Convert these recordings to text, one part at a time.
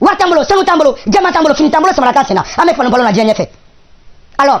Wari t'an bolo, sanu t'an bolo, jaman t'an bolo, fini t'an bolo samara t'an sen na. An bɛ fɔlɔ fɔlɔ na diɲɛ ɲɛfɛ. Alors,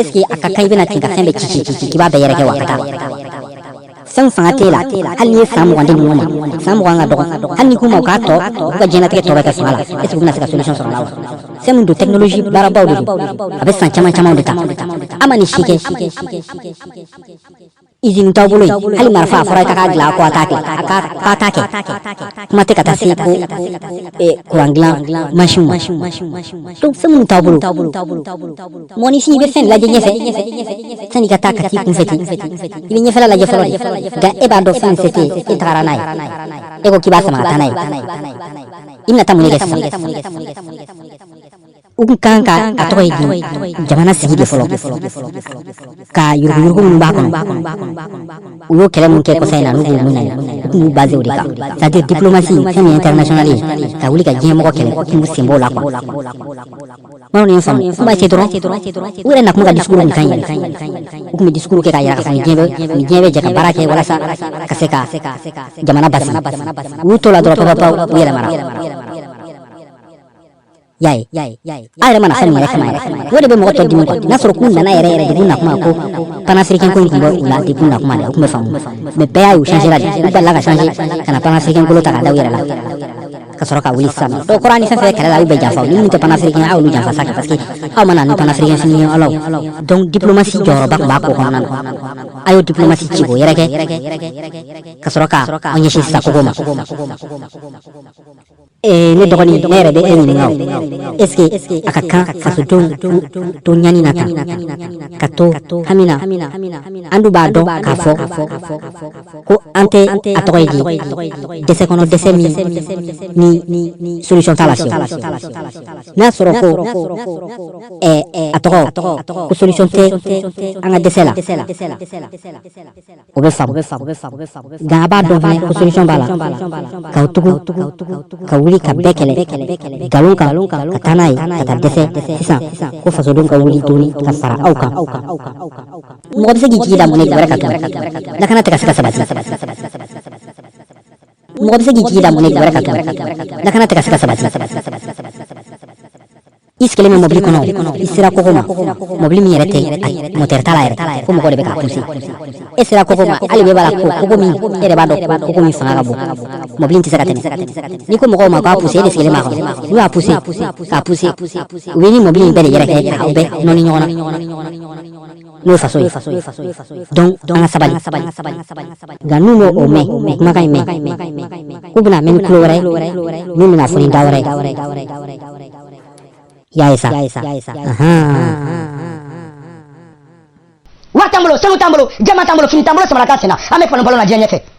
eske a ka kan i bɛ na ten ka fɛn bɛɛ ci k'i b'a bɛɛ yɛrɛkɛ wa ka taa fɛn fanga t'e la hali n'i ye san mugan di ninnu ma san mugan ka dɔgɔ hali n'i k'u ma u k'a tɔ u ka diɲɛnatigɛ tɔ bɛ kɛ fanga la eske u bɛna se ka solution sɔrɔ a la wa fɛn min don technologie baarabaw de don a bɛ san caman camanw de ta a ma nin si kɛ izini t'aw bolo hali marifa a fɔra i ka k'a dilan ko a t'a kɛ k'a t'a kɛ kuma tɛ ka taa se ko kuran dilan mansin ma donc fɛn minnu t'aw bolo mɔgɔninfin i bɛ fɛn lajɛ ɲɛfɛ sann'i ka taa ka t'i kunfɛ ten i bɛ ɲɛfɛla lajɛ fɔlɔ de nka e b'a dɔn fɛn se tɛ e tagara n'a ye e ko k'i b'a sama ka taa n'a ye i bɛna taa mun de kɛ sisan u kun kan ka a tɔgɔ ye di jamana sigi de fɔlɔ ka yuruguyurugu minnu b'a kɔnɔ u y'o kɛlɛ min kɛ kɔsa in na n'u b'u minɛ u tun b'u base o de kan c'est à dire diplomasi fɛn min ye international ye ka wuli ka diɲɛ mɔgɔ kɛlɛ u tun b'u sen b'o la quoi maaw ni ye faamu u b'a kɛ dɔrɔn u yɛrɛ na kuma ka discours nin kan yɛrɛ u tun bɛ discours kɛ k'a yira k'a fɔ ni diɲɛ bɛ ni diɲɛ bɛ jɛ ka baara kɛ walasa ka se ka jamana basigi u y'u to la dɔrɔn papapaw u yɛlɛmara y'a ye a yɛrɛ ma na fɛn min yɛrɛ kama yɛrɛ o de bɛ mɔgɔ tɔ dimi quoi n'a sɔrɔ k'u nana yɛrɛ yɛrɛ de k'u na kuma ko panafricain ko in tun bɛ u la de k'u na kuma dɛ o tun bɛ faamu mais bɛɛ y'a ye u changera de u balila ka changer ka na panafricain kolo ta k'a da u yɛrɛ la ka sɔrɔ ka wuli sisan o kɔrɔ ni fɛn fɛn kɛlɛ la aw bɛɛ janfa ni minnu tɛ panafricain aw y'olu janfa sa kɛ parce que aw ma na ni panafricain fini ye alaw donc diplomasi jɔyɔrɔba tun b'a ko kɔnɔna na a y'o diplomasi ci k'o yɛrɛkɛ ka sɔrɔ ka aw ɲɛsin sisan kogo ma ee ne dɔgɔnin ne yɛrɛ bɛ e ɲininka o est ce que a ka kan fasodenw to ɲani na tan ka to hami na an dun b'a dɔn k'a fɔ ko an tɛ a tɔgɔ ye di dɛsɛ kɔnɔ dɛsɛ min ni solution t'a la fiyewu n'a sɔrɔ ko ɛɛ a tɔgɔ ko solution tɛ an ka dɛsɛ la O bɛ faamu nka a b'a dɔn fana ko solution b'a la ka tugu ka wuli ka bɛɛ kɛlɛ nkalon kan ka taa n'a ye ka taa dɛsɛ sisan ko fasodenw ka wuli tuguni ka fara aw kan mɔgɔ bɛ se k'i jigi da mun kan lakana tɛ ka se ka sabati mɔgɔ bɛ se k'i jigi da mun kan lakana tɛ ka se ka sabati i sigilen bɛ mɔbili kɔnɔ i sera kogo ma mɔbili min yɛrɛ tɛ mɔtɛri t'a la yɛrɛ ko mɔgɔ de bɛ k'a puse e sera kogo ma hali bɛɛ b'a la ko kogo min e yɛrɛ b'a dɔn ko kogo min fanga ka bon mɔbili in tɛ se ka tɛmɛ n'i ko mɔgɔw ma k'a puse e de sigilen b'a kɔnɔ n'u y'a puse k'a puse u b'e ni mɔbili in bɛɛ de yɛrɛkɛ k'a bɛɛ nɔni ɲɔgɔn na n'o ye faso ye donc an ka sabali nka n'u m'o o mɛn kumakan in mɛn k'u bɛna mɛn ni tulo wɛrɛ ye min bɛna fɔ ni da wɛrɛ ye y'a ye sa wari t'an bolo sanu t'an bolo jaman t'an bolo fini t'an bolo samara t'an sen na an bɛ fɔlɔ balo la diɲɛ ɲɛfɛ